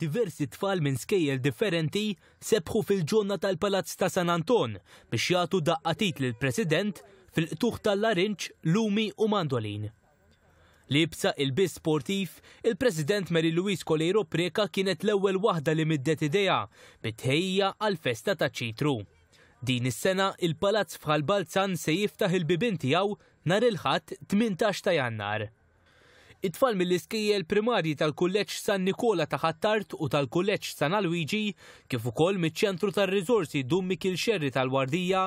Diversi tfal minn skejjel differenti sebħu fil-ġonna tal-Palazz ta' San Anton biex jagħtu daqqa t'id lill-President fil-qtugħ tal-larinġ, lumi u mandolin. Liebsa ilbies sportiv, il-President Mary Louise Coleiro Preca kienet l-ewwel waħda li middet idejha bit-tħejjija għall-festa taċ-Ċitru. Din is-sena il-Palazz f'Ħal Balzan se jiftaħ il-bibien tiegħu nhar il-Ħadd 18 ta' Jannar. It-tfal mill-iskejjel primarji tal-Kulleġġ San Nikola ta' Ħ'Attard u tal-Kulleġġ San Alwiġi, kif ukoll miċ-Ċentru tar-Riżorsi Dun Mikiel Xerri tal-Wardija,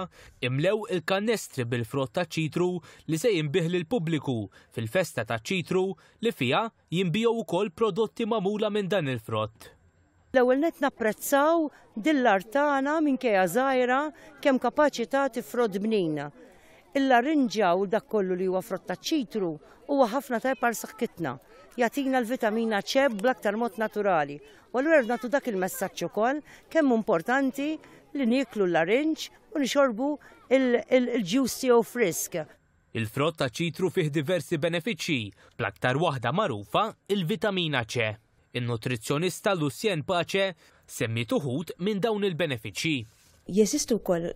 imlew il-kannestri bil-frott taċ-ċitru li se jinbiegħ lill-pubbliku fil-festa taċ-ċitru li fiha jinbiegħu wkoll prodotti magħmula minn dan il-frott. L-ewwel nett napprezzaw din l-art tagħna minkejja żgħira kemm kapaċi tagħti frott bnin. Il-larinġja u dak kollu li huwa frott taċ-ċitru huwa ħafna tajjeb għal saħkitna. Jagħtina l-vitamina C bl-aktar mod naturali. U allura rridu nagħtu dak il-messaġġ ukoll kemm hu importanti li nieklu l-larinġ u nixorbu l-ġus tiegħu frisk. Il-frott taċ-ċitru fih diversi benefiċċji, bl-aktar waħda magħrufa, il-vitamina C. In-nutrizzjonista Lucienne Pace semmiet uħud minn dawn il-benefiċċji. Jeżistu wkoll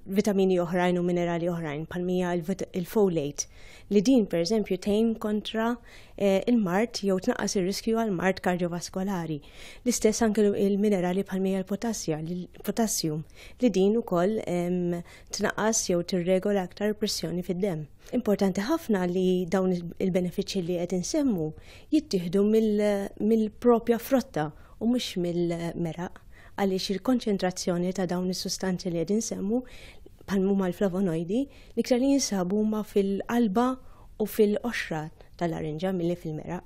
vitamini oħrajn u minerali oħrajn bħalmija il-folate li din pereżempju tgħin kontra eh, il-mart jew tnaqqas ir-riskju għal mart kardiovaskolari. L-istess anke il-minerali bħalmija l-potassja, l-potassium li din ukoll tnaqqas jew tirregola aktar il-pressjoni fid-demm. Importanti ħafna li dawn il-benefiċċji li qed insemmu jittieħdu mill-propja frotta u mhux mill-meraq għaliex il-konċentrazzjoni ta' dawn is-sustanzi li qed insemmu bħal huma l-flavonoidi li ktar li jinsabu huma fil-qalba u fil-qoxra tal-arinġa milli fil-meraq.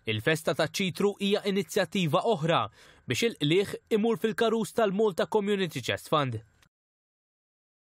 Il-Festa taċ-Ċitru hija inizjattiva oħra biex il-qligħ imur fil-karus tal-Malta Community Chest Fund.